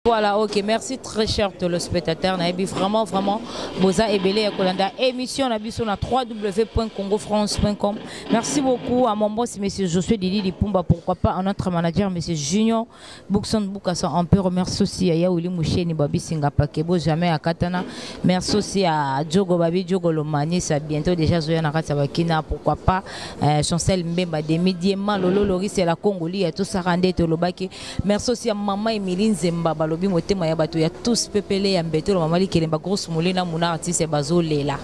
Voilà, ok, merci très cher téléspectateur. Naebi vraiment, vraiment, Boza et Belé Kolanda, émission na biso na www.congofrance.com. Merci beaucoup à mon boss, monsieur Josué Didi Lipumba, pourquoi pas à notre manager, monsieur Junior Boukson Boukasson. On peut remercier aussi à Yaouli Mouché, Nibabi Singapa, Kebo, jamais à Katana. Merci aussi à Djogo Babi, Djogo Lomani, ça bientôt déjà Zoya Nakata Bakina, pourquoi pas, euh, Chancel Mbemba, Demi Diema, Lolo Loris et la Congolie, tout ça rendait au Lobaki. merci aussi ya mama emili nzemba balobi motema ya bato ya tous pepele ya mbetelo mama likelemba grosse molina muna artiste bazolela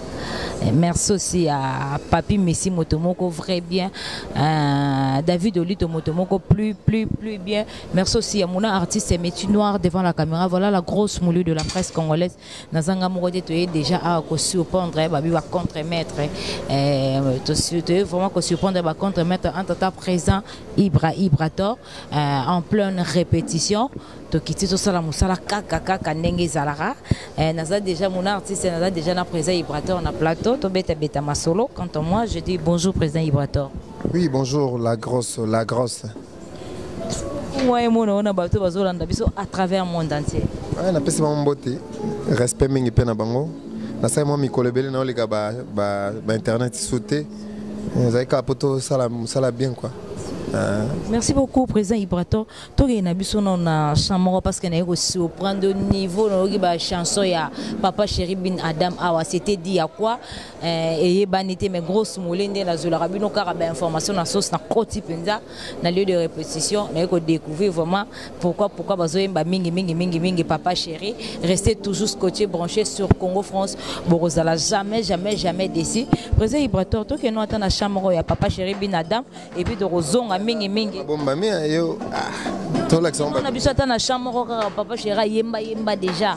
eh, merci aussi ya papi messi moto moko vrai bien euh, david olito moto moko plus plus plus bien merci aussi ya muna artiste ya métier noir devant la caméra voilà la grosse moulu de la presse congolaise nazanga moko te toye déjà awa kosurprendre eh, babi bacontremaître eh, toye vraiment kosurprendre bacontremaître entre ta présent ibra ibrator euh, en pleine répétition tokiti tosala mosala kaka kaka ndenge ezalaka eh, naza déjà mon artiste naza déjà na président ibrator na plateau tobetabeta masolo quant à moi je dis bonjour président ibrator oui bonjour la grosse la grosse moi emona ona bato bazolanda biso à travers monde entier ouais, napesi bango mbote respect mingi mpe na bango nasali mwa mikolo ebele naoleka bainternet ba, ba sute ezali kaka mpo tosala mosala bien quoi euh. merci beaucoup président ibrator tokende na biso nao na chant moko parce que naye kosurprendre niveau nayoki bachanson ya papa chéri bin adam awa c'était dit ya quoi euh, eyebani te mais grosse mole nde nazwelaka bino kaka bainformation na sosi na koti mpenza na lieu de répétition naye ko découvrir vraiment pourquoi pourquoi bazoyemba mingi mingi mingi mingi papa chéri restez toujours scotché branché sur Congo France bokozala jamais jamais jamais déçu président Ibrator tokeno ata na chambre ya papa chéri binadam et puis tokozonga mingi mingi bombami yo ah, tolakisa na biso ata na chambre kaka papa chéri ayemba yemba déjà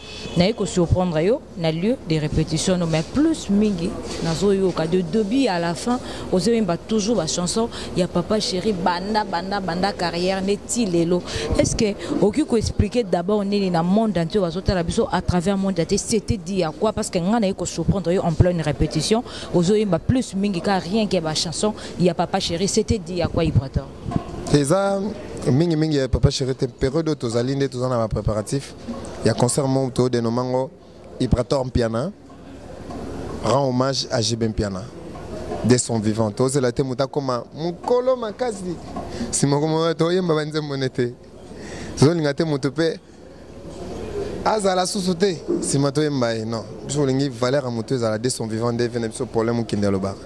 naye ko surprendre yo na lieu de répétition no mais plus mingi nazoyoka de début à la fin ozoyemba toujours bachanson ya papa chéri banda banda banda carrière neti lelo est ce que okoki koexplike d'abord nini na monde entier bazotala biso à travers monde entier c'était dit ya quoi parce que ngai naye ko surprendre yo en pleine répétition ozoyemba plus mingi ka rien que bachanson ya papa chéri c'était dit ya quoi ibrator eza mingimingi ya papa chéri te periode oyo tozali nde toza na bapréparatif ya concert moko to de nomango Ibrator Mpiana rend hommage à JB Mpiana de son vivant tozela te moto akoma mokolo makasi nsima koma toyemba banzembo ne te tozolinga te moto mpe azala susu te nsima toyemba ye non biso olingi valeur ya moto ezala de son vivant nde vene biso problème okende alobaka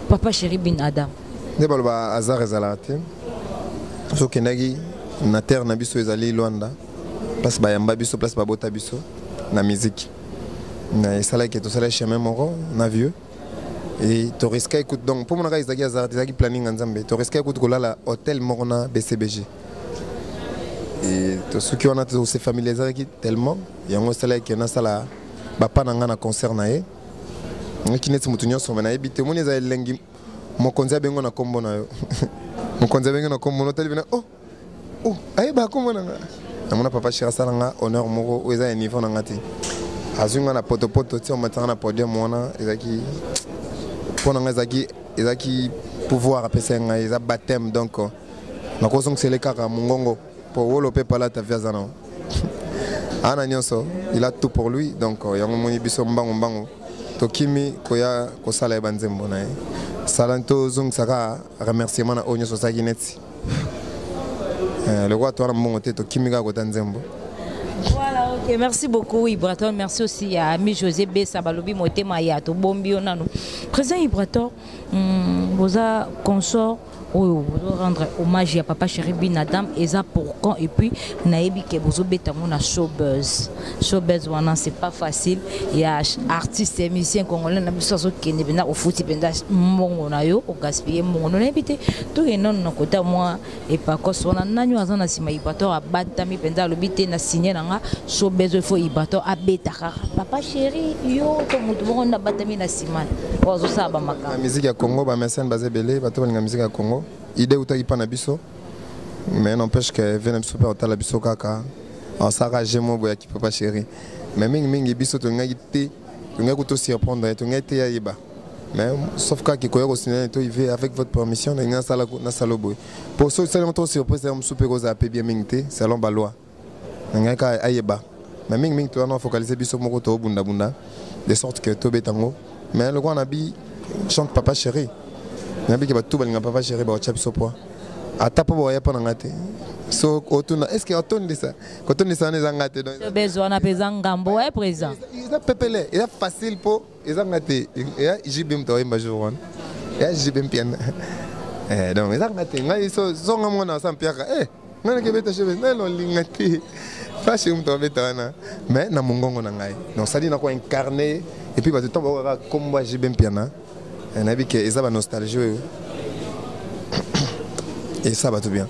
papa chéri bin adam nde baloba hasard ezalaka te soki okendaki na terre na biso ezali lwanda place bayamba biso place babota biso na miziki na esalaki tosalaki chemin moko na vieux e toriska ekute donc mpo monaka ezalaki hasard ezalaki planning ya nzambe toriska ekute kolala hôtel moko na bcbg e tosuki wana tose familiarisaki tellement yango esalaki nasala bapa na ngai na concert na ye naki neti moto nyonso me nayebi te omoni eza elengi mokonzi abengo na nkombo na yo mokonzi abengi na nkombo na otali bina o oh, o oh, ayeba nkombo na nga namona papa shir asala nga honneur moko oyo eza ya niveau na nga te azwi nga na potopoto ti omatanga na podium wana ezalaki mpo na nga ezalaki ezalaki pouvoir apesaki ngai eza bateme donc nakozongisele kaka mongongo po wolo pe palata vie aza nango ana nyonso il a tout pour lui donc euh, yango moni biso mbangu mbangu tokimi koya kosala ye banzembo na ye sala tozongisa kaka remerciement na oyo nyonso osalaki neti euh, lokola towana mbongo te tokimi kaka kota nzembo Voilà, ok. Merci beaucoup, Ibrator. Merci aussi à Ami José Bessa, Balobi Motema Yato, Bombio Nano. Président Ibrator, hum, vous a consort oyo bozo rendre hommage ya papa chéri bin adam eza pour quand et puis nayebi ke bozobeta yango na showbuzz showbuzz wana c'est pas facile ya artiste ya musicien congolais na biso azokende mpenza ofuti mpenza mbongo na yo ogaspille mbongo no nayebi te tokendano na kota mwa epakos wana nani oyo aza na nsima ibator abatami mpenza alobi te na signe na nga showbuzz oyo fo ibator abeta kaka papa chéri yo to moto moko nde abatami na taximan oyo azosala bamakambo miziki ya congo bamesene baza ebele bato balinga miziki ya congo ide eutaki mpa na biso mais n'empêche que vie na biso mpe otala biso kaka osaka jemo boya kipapa chéri mais mingimingi biso tolingaki te tolingaki kuto surprendre tolingaki te yayeba mais sauf kaka ekoya kosinana to ive avec votre permission nalingi nasala boye mpo soki osali yango to surprise yango mosusu mpe ekozala mpe bien mingi te selon baloi ngai ka ayeba me mingi mingi toyana ofocalise biso moko tobundabunda de sorte que tobeta yango me lokola na bi chante papa chéri nayebi ke bato balinga papa chéri baotya biso poa ata mpo bawaya mpo na ngai te so otuna est ce que otondisa kotondisa wana eza ngai te bezwana mpenza ngambo e président eza pepele eza facile mpo eza nga te ya jb moto ayemba jour wana ya jb mpiana eh, donc eza nga te ngai songa mwana asa mpiaka e eh, ngai nakebeta jb ngai lolinga te fashi moto abeta wana mais na mongongo na ngai donc sadi nako incarne epuis bato ntango bakokaka nkombo ya jb mpiana eh, nayebi ke eza banostalgie oyo esa bato bien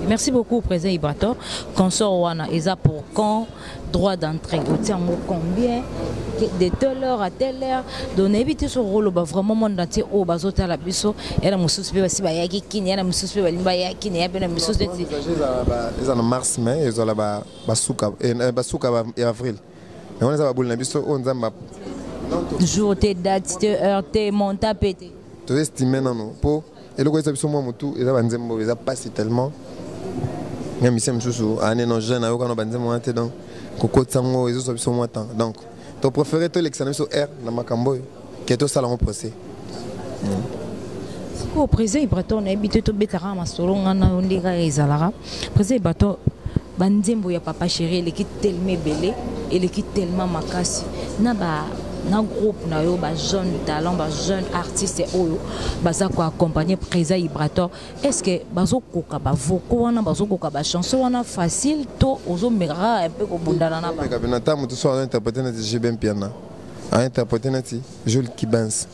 merci beaucoup président ibrator consort wana eza pour quand droit d'entrée otie yango combien de telle heure à telle heure donc nayebi te soki okoloba vraiment monde entier oyo oh, bazotala biso ya na mosusu mpe basi bayaki kini ya na mosusu mpe balingi baya kini ya mpe na mosusu neti eza na mars mai ezala basuka eh, eh, ya avril yango wana eza baboli na biso oyo oh, nzambe jour te date te heure te monta mpe te toestime nano mpo eloko eza biso mwa motu eza banzembo oyo eza mpasi tellement ya misie mosusu ane non jeune ayoka na banzembo wana te donc kokotisa yango ezozwa biso mwa temps donc to préféré tolekisa na biso aire na makambo oyo ke tosala yango procès sikoyo président ibrator nayebi te tobetaka masolo ngai na yo nde kaka ezalaka président ibrator ba nzembo ya papa chéri eleki tellement ebele eleki tellement makasi na ba na groupe na yo ba jeune talent ba jeune artiste oyo baza ko accompagner Preza Ibrator est ce que bazo koka ba vocaux wana bazo koka ba chanson wana facile to ozo mera un peu ko bundana na ba ka bina tamu to so interpréter na JB Mpiana a interpréter na ti Jules Kibens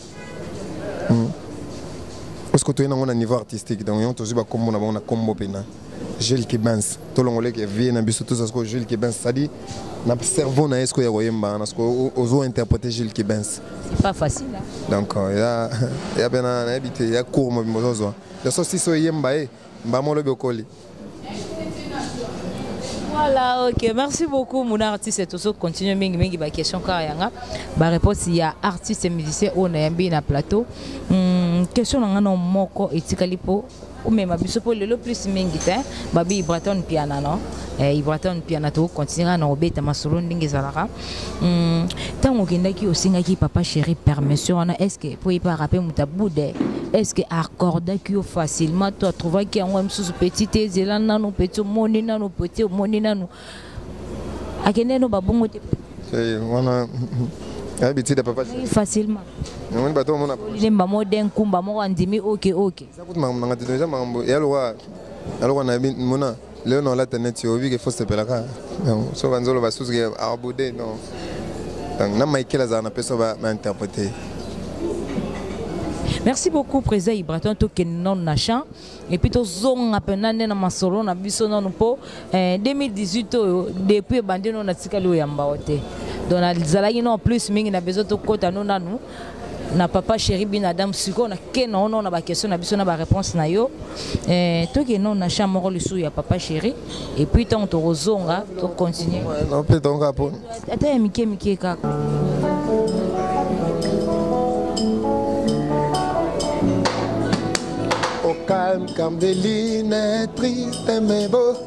hmm. parce que toyei nango na niveau artistique donc yango tozwi bakombo na bango na kombo mpena jules kibens tolongoleke vie na biso toza sikoyo jules kibens cestadi na cerveau na ye sikoyo ya koyemba na sikoyo ozo interprete jules kibens donc ya ya mpena nayebi te ya cour mobimba ozozwa ya so sisi oyemba ye mbamo lobi okoli Voilà, ok. Merci beaucoup, mon artiste. Et toujours, continue mingi mingi ba question car yanga. Ba réponse il y a artiste et musicien on a yambi na plateau. Hmm, question na ngano moko etikali po ou même abiso po lelo plus mingi te. Babi Ibraton piana non. Eh, Ibraton piana to continuera na obeta masolo ndenge zalaka. Hmm, ntango okendaki osengaki papa chéri permission wana est ce que mpo epaka mpe moto abude est ce que accordaki yo facilement to atrouvaki yango mosusu petit te ezela nanu petit omoni nanu petit omoni nanu akende no babongo te eh, wana ayebi tida papa facilement namoni bato omona lemba mo de nkumba moko andimi oke oke eza kutu makambo nanga te eza makambo eyaloka yaloka nayebi mona leo na olata neti oyebi ke fo sepelaka donc so banzolo basusu ke abude non donc na michael azala na peso bainterprete merci beaucoup président ibraton tokende nano na champ epuis tozonga mpena nde na masolo na biso nano mpo 2018 eh, oyo depuis ebandi no natikali oyamba yo te donc nazalaki no plus mingi na besoin tokɔta no nanu na papa chéri bin adam sikoyo nake naono na baquestion na biso na baréponse na yo eh, tokeno na champ moko lisusu ya papa chéri epuis ntango tokozonga tocontinue mpe tonga mpo ata ya mike mike kaka calme, calme des lunettes tristes mais beau.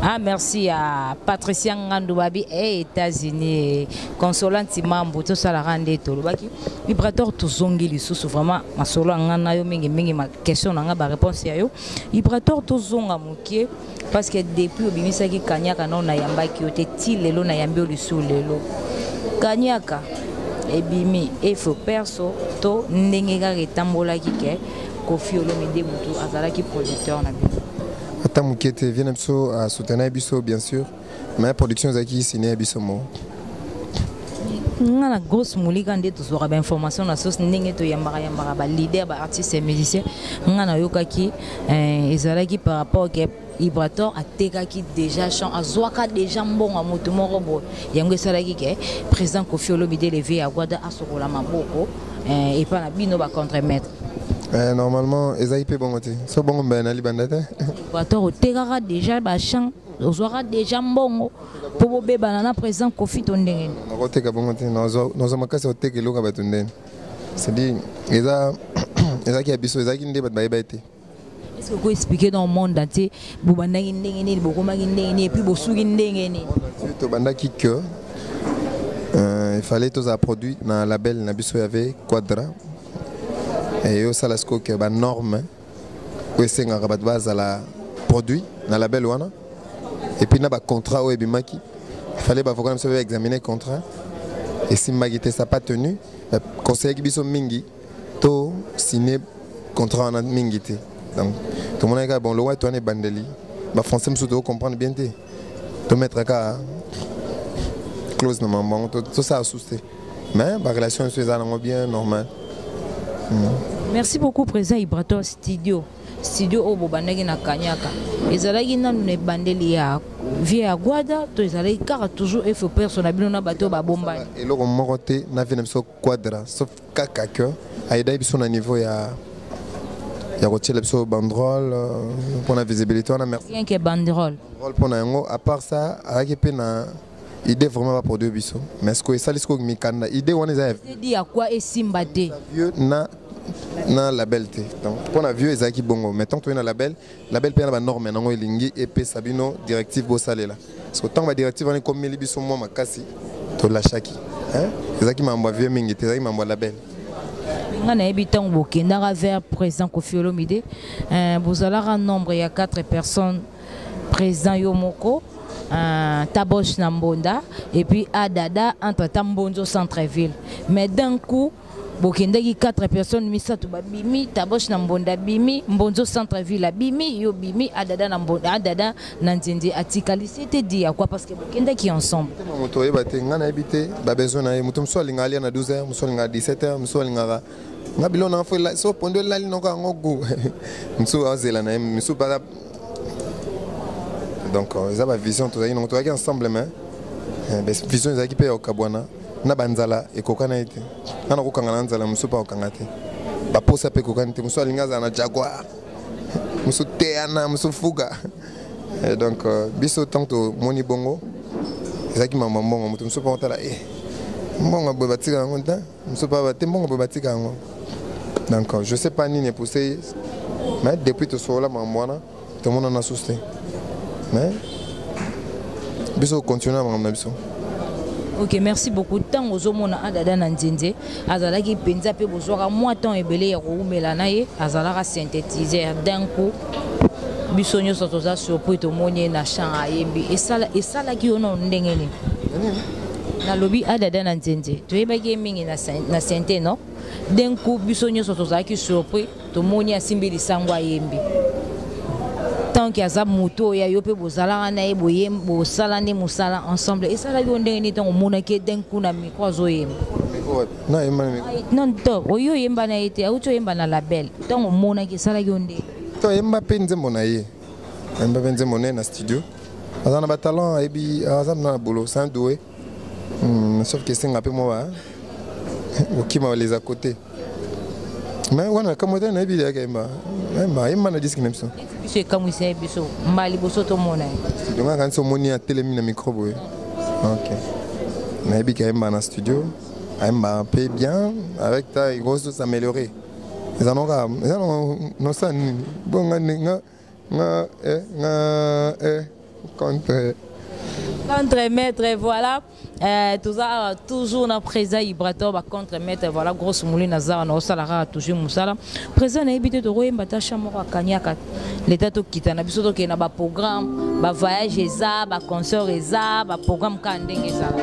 Ah, merci à Patricia Ngandoubabi et États-Unis. Consolant Timambo, tout ça la rende tout. Lobaki, Ibrator tout zongi li sous vraiment ma solo ngana yo mingi mingi ma question nanga ba réponse ya yo. Ibrator tout zonga mokie parce que depuis obimisa ki kanyaka non na yamba ki ote ti lelo na yambi oli sous lelo. Kanyaka ebimi efo perso to ndenge kaka etambolaki ke Koffi Olomide mutu azalaki producteur na bino. ata moke te vie na biso asoutenaki biso bien sûr mais production ezalaki sine ya biso moko nga na grosse molika nde tozwaka bainformation na source ndenge toyambaka yambaka baleader baartiste ya musicien nga nayokaki eh, ezalaki par rapport ke ibrator atekaki déjà champ azwaka déjà mbongo ya moto moko boye yango esalaki ke président kofi olomide leve ya gwada asokola maboko eh, epa na bino ba contre maître eh, normalement ezali mpe bongo te so bongo mbele na libanda te equateur otekaka déjà bachamp ozwaka déjà mbongo mpo bobebana na président kofi to ndenge nini nakoteka bongo te nazwa makasi ya koteka eloko ya bato ndeni cestadire eza ezalaki ya biso ezalaki nde bato bayeba ye te est ce que ko expliquer dans monde entier bo bandaki ndenge nini bo komaki ndenge nini et puis bo suki ndenge nini to bandaki que euh, il fallait tous à produit na label na biso y avait quadra et yo sala siko que ba norme ko senga ba base à la produit na label wana et puis na ba contrat au ebimaki il fallait ba voka na biso examiner contrat et si magité ça pas tenu conseiller biso mingi to signer contrat wana mingi te donc tomonaki kaka bon lowa to wana ebandeli bafrançais mosusu toko comprendre bien te tomettre kaka close na mambo yango tosala susu te mais barelation nyonso eza nango bien normal mm. merci beaucoup président ibrator studio studio oyo bobandaki na kanyaka ezalaki nanu na ebandeli ya vie ya gwada to ezalaki kaka toujours efopers na bino na bato oyo babombani eloko moko te na vie na biso Quadra sauf kaka que ayedaki biso na niveau ya ya kotiela biso bandrole euh, mpo na visibilité wana merci rien que bandrole bandrole mpo na yango à part ça ayaki mpe na idée vraiment baproduire biso mais sikoyo esali sikoyo mikanda idée wana eza ya quoi esimba te na na label te donc mpo na vieux ezalaki bongo mais tant toyei na label label mpe na banorme nango elingi epesa bino directive bosalela parce que ntango badirective wana ekomeli biso mwa makasi tolashaki ezalaki mambo ya vieux mingi te ezalaki mambo ya label nga nayebi ntango bokendaka vers président kofi olomide euh, bozalaka nombre ya 4 personnes président yo moko euh, taboche na mbonda et puis adada entre ta mbonzo centre ville mais d'un coup bokendaki 4 personnes misato babimi tabosh na mbonda abimi mbonzo centre ville abimi yo bimi adada na mbonda adada na nzenze atikali sete di ya quoi parce que bokendaki ensemble moto oyeba te ngai nayebi te babesoin na ye moto mosusu alingaka alia na 12 heures mosusu alingaka 17 heures mosusu alingaka nga bilo nanga fo so pondo elali noko yango gu mosusu azela na ye mosusu baza donc eza bavision tozalaki nango tozalaki ensemble mais eh, vision ezalaki mpe ya okabwana na banzala ekokana ye te nga nakokanga na nzala mosusu mpe akokanga te baposa mpe ekokani te mosusu alingi azala na jaguar mosusu teana mosusu fuga eh, donc euh, biso ntango tomoni bongo ezalaki mama mbongo moto mosusu mpe otala e eh, mbongo boye batika yango te mosusu mpe bate mbongo boye batika yango donc euh, je sais pas nini epuse ye mais depuis tosolola mambo wana tomonana susu te mais biso continue na makambo na biso ok merci beaucoup ntango ozomona adada na nzenze azalaki mpenza mpe bozwaka mwa temps ebele ya kowumela na ye azalaka synthétiseur d'un coup biso nyonso toza surpris tomoni ye na champ ayembi esalaki yo nano ndenge nini nalobi adada na nzenze toyebaki ye mingi na synthé non d'un coup biso nyonso tozalaki surpris tomoni asimbi lisango ayembi tanke aza moto oyo ya yo mpe bozalaka na ye boye bosala nde mosala ensemble esalaki yo ndenge nini ntango omonaki ye den kuna micro azoyemba non to oyo oyemba na ye te auti oyemba na label ntango omonaki esalaki yo ndenge to ayemba mpe nzembo na ye ayemba mpe nzembo na ye na studio aza na batalent ayebi aza na bolo saint doue Hmm, sauf que esenga mpe mwa kokima les à côté me wana kamwa te nayebi yaka yemba yemba yemba na diski na biso biso ekamwisa ye biso mba liboso tomona ye donga kanisi omoni atelemi na micro boye ok nayebi ke ayemba na studio ayemba mpe bien avec ta ekoki s'améliorer eza noka eza nosa nini bonga nga eh nga eh contre contre maître voilà euh, toza awa toujours na président ibrator ba contre maître voilà grosse mouli na zawa na osala kaka toujours mosala président nayebi te tokoyemba ta cha moko akaniaka leta tokita na biso tokende na baprogramme bavoyage eza baconcert eza baprogramme kaka ndenge ezala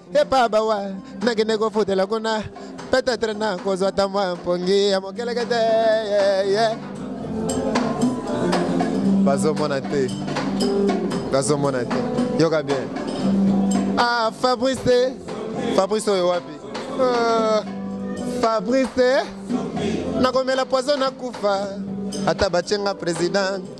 epa bawa nakende kofutela kuna petetre nakozwa ata mwa mpongi ya mokeleke te bazomona te bazomona te yoka bien ah fabrice te fabrice oyo wapi ah, fabrice te nakomela poison nakufa ata batyenga president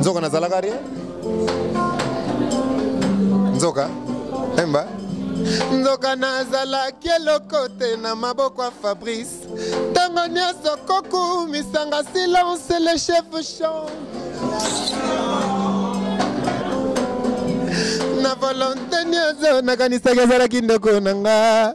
nzoka nazalaka rien nzoka emba nzoka nazalaki eloko te na maboko ya fabrice ntango nyonso kokumisanga silence le chef chant na volonte nyonso nakanisaki ezalaki ndeko na nga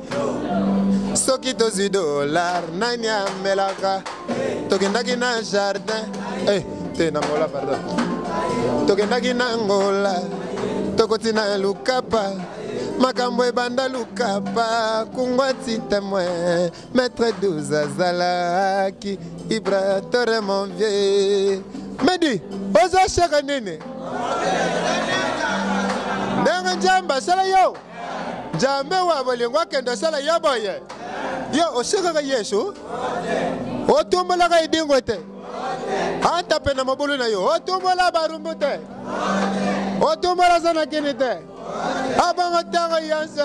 soki tozwi dolar nani amelaka tokendaki na jardin eh, te na ngola pardon tokendaki na ngola tokoti na lukapa makambo ebanda lukapa kungwati temoin maître 12 azalaki ibratore mon vieux medi ozoshaka nini ndenge njamba sala yo nzambe wa bolingo akende osala ye boye ye osekaka yesu otumbolaka edingo te ata mpe na mobulu na yo otumbola barumbu te otumbola zanakini te abongo ntango yonse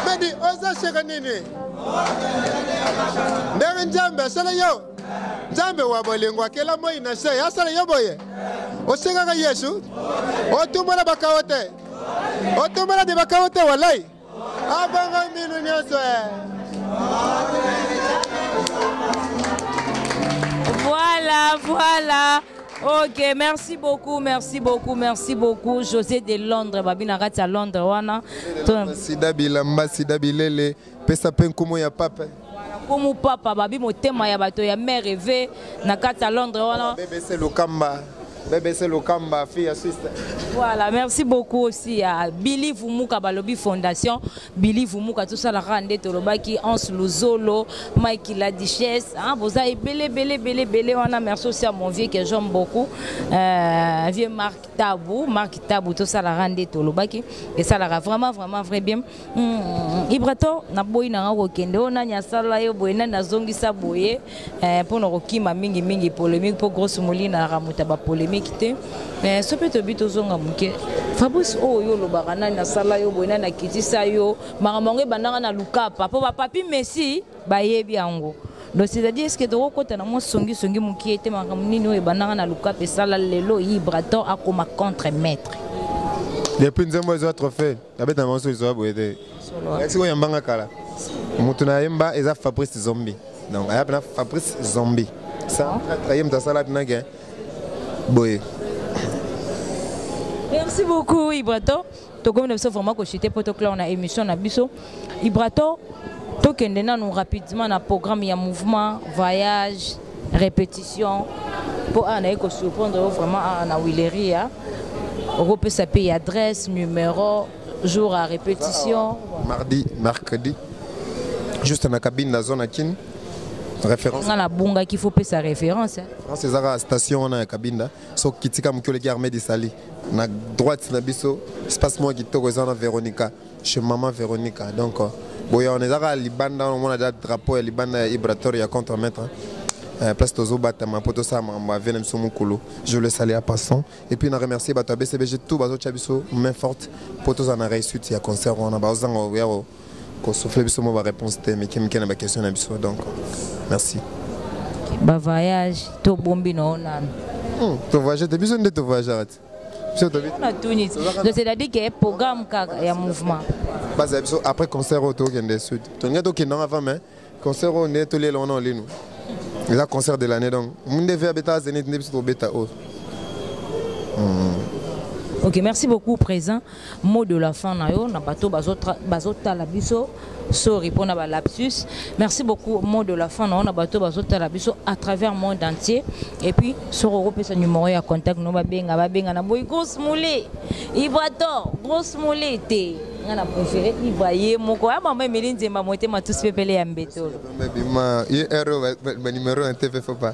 medi oza seka nini ndenge nzambe asala yo nzambe wa bolingo akela moi na se asala yo boye osengaka yesu otumbola bakao te otumbola de bakao te walai abanga minu nyonso eh. voilà voilà ok merci beaucoup merci beaucoup merci beaucoup josé de londres babina kati ya londres wana sida bilamba sida bilele pesa mpe nkumu ya pape nkumu papa babi motema ya bato ya mare eve na kati ya londres wana bebese lokamba bebese lokamba fi ya sister voilà merci beaucoup aussi ya billy vumuka balobi fondation billy vumuka tosalaka nde tolobaki anse luzolo mike la duchesse hein, boza ebele ebele ebele ebele wana merci aussi ya mon vieux que j'aime beaucoup euh, vieux marc tabu marc tabu tosalaka nde tolobaki esalaka vraiment vraiment vrai bien ibrator naboyi nanga kokende oyo nani asala yo boye nani azongisa boye eh, mpo na kokima mingimingi polémique mpo grosse molina aramuta bapolémique te eh, so mpe tobi tozonga moke fabrice oyo oh, yo olobaka nani asala yo boye nani akitisa yo makambo yango ebandaka na lukapa mpo bapapi messi bayebi yango donc c'est-à-dire eske tokokota na mwa songisongi mokie te makambo nini oyo ebandaka na lukapa esala lelo ibrator akoma contre maître depuis nzembo ezwa trophée abeta bango soki zoa boye te ayaki sikoyo yambanga kala moto na yemba eza fabrice zombi donc aya mpena fabrice zombi aye moto asala mpena ke boye merci beaucoup ibrato tokomi na biso vraiment kochite mpo tokla na émission na biso ibrato tokende nanu rapidement na programme ya mouvement voyage repetition mpo awa naye kosurprendre yo vraiment awa na willeria okopesa mpe adresse numero jour ya repetition mardi mercredi juste na cabine na zone ya kini référence nga nabungaki faut pesa référence france ezaka station wana ya kabinda soki kitika moki oleki armée de sali na droite na biso espace moko kitoko eza wana véronica chez maman Veronica donc euh, boya on ezaka libanda on mona da drapeau ya libanda ya Ibrator ya contre maître hein. euh, place tozo batama poto sa mambo avia na biso mukulu je le salue à passant et puis na remercier bato ya BCBG tout bazo tia biso main forte poto za na réussite ya concert wana bazo zanga ya ko souffler biso mo ba réponse te mais kimike na ba question na biso donc merci ba voyage to bombi na onana hmm, to voyage te biso nde to voyage c'est-à-dire que programme kaka ya mouvement bazala biso après concert oyo tokende sud tolingi tokende yango avant mais concert oyo nde tolela wana olinu eza concert de l'année donc munde ve abeta zenit nde biso tobeta oyo ok merci beaucoup présent mot de la fin na yo na bato bazotala biso sorry mpo na balapsus merci beaucoup mot de la fin na yo na bato bazotala biso à travers monde entier et puis soki okopesa numero ya contact no babenga babenga na boyi grosse moule ibrator grosse moule te nga na préféré ibra ye moko ya mama emeli nzemba motema tusi pepele ya mbetolo bima ye ero banumero ya tv fopa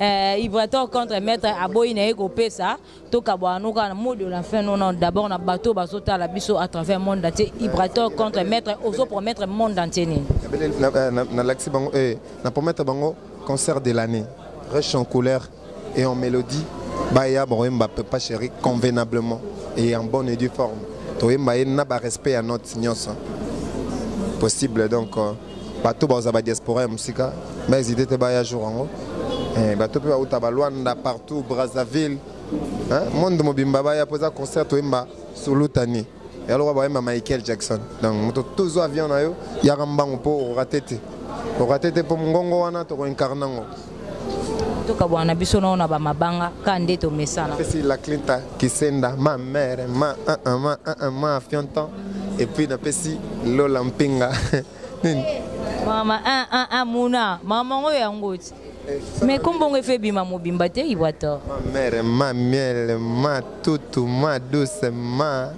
Euh, Ibrator contre maître aboyi na ye kopesa tokabwana no kaka na mot de la fin nona d'abord na bato bazotala biso à travers monde entier Ibrator contre maître ozo promettre monde entier nini nalakisi bango eh, na promettre bango concert de l'année riche en couleur et en mélodie baya bakoyemba pepa chéri convenablement et en bonne et due forme toyemba ye na barespect ya note nyonso possible donc euh, bato baoza badiaspora ya mosika baezide te baya jour yango eh, bato mpe bauta balwanda partout brazzaville monde mobimba baya mpo eza concert toyemba solutani yaloka bayemba michael jackson donc moto tozwa avion na yo yaka mbango mpo orate te orate te mpo mongongo wana tokoincarne yango tokabwana na biso nao na bamabanga ka nde tomesana pesi la clinta kisenda ma mère ma uh, uh, ma uh, uh, ma fionton et puis napesi lola mpinga nini mama uh, uh, uh, muna mama yango yango ti mais kombongo efe ebima mobimba te iwata ma mère ma miel ma tutu ma douce ma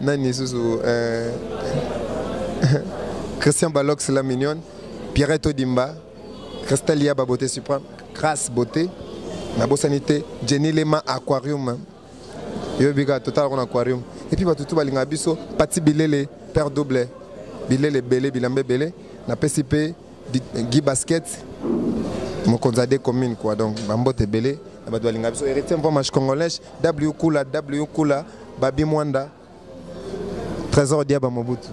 nani lisusu euh, christian balox la mignonne pierrette odimba christelle yaba beauté supreme grace beauté nabosani te jenny lema aquarium yoyebi kaka totalaka na aquarium epuis bato tu balingaka biso pati bilele père double bilele ebele bilamba ebele napesi mpe Guy Basket mokonzi ya de commune quoi donc bambote ebele na bato balinga biso héritier mpomash congolais w kula w kula babi mwanda trésor diaba mobutu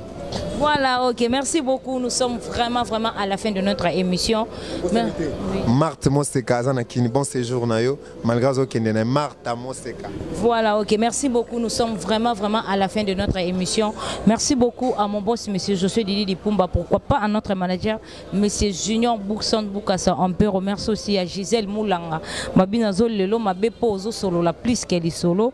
Voilà, ok, merci beaucoup. Nous sommes vraiment, vraiment à la fin de notre émission. Marthe Moseka, Azanakini, bon séjour, Nayo. malgré azokende na marta moseka voilà ok merci beaucoup nous sommes vraiment vraiment à la fin de notre émission merci beaucoup à mon boss monsieur Josué Didi Dipumba pourquoi pas à notre manager monsieur Junior Boukson Boukassa on peut remercier aussi à Gisèle Moulanga mabina zo lelo mabe po ozo solo la plus qu'elle solo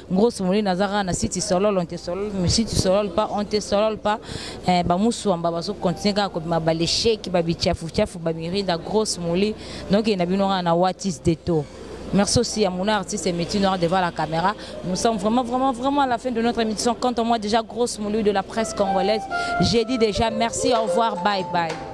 Ngros moli naza kaka na site solol on te solol mais site solol pas on te solol pas eh, bamusuamba bazo continuer kaka kobima balesheki babichafuchafu bamirinda gros moli donc na bino kaka na what is the taux Merci aussi à mon artiste et Métis Noir devant la caméra. Nous sommes vraiment, vraiment, vraiment à la fin de notre émission. Quant à moi, déjà, grosse moulu de la presse congolaise, j'ai dit déjà merci, au revoir, bye bye.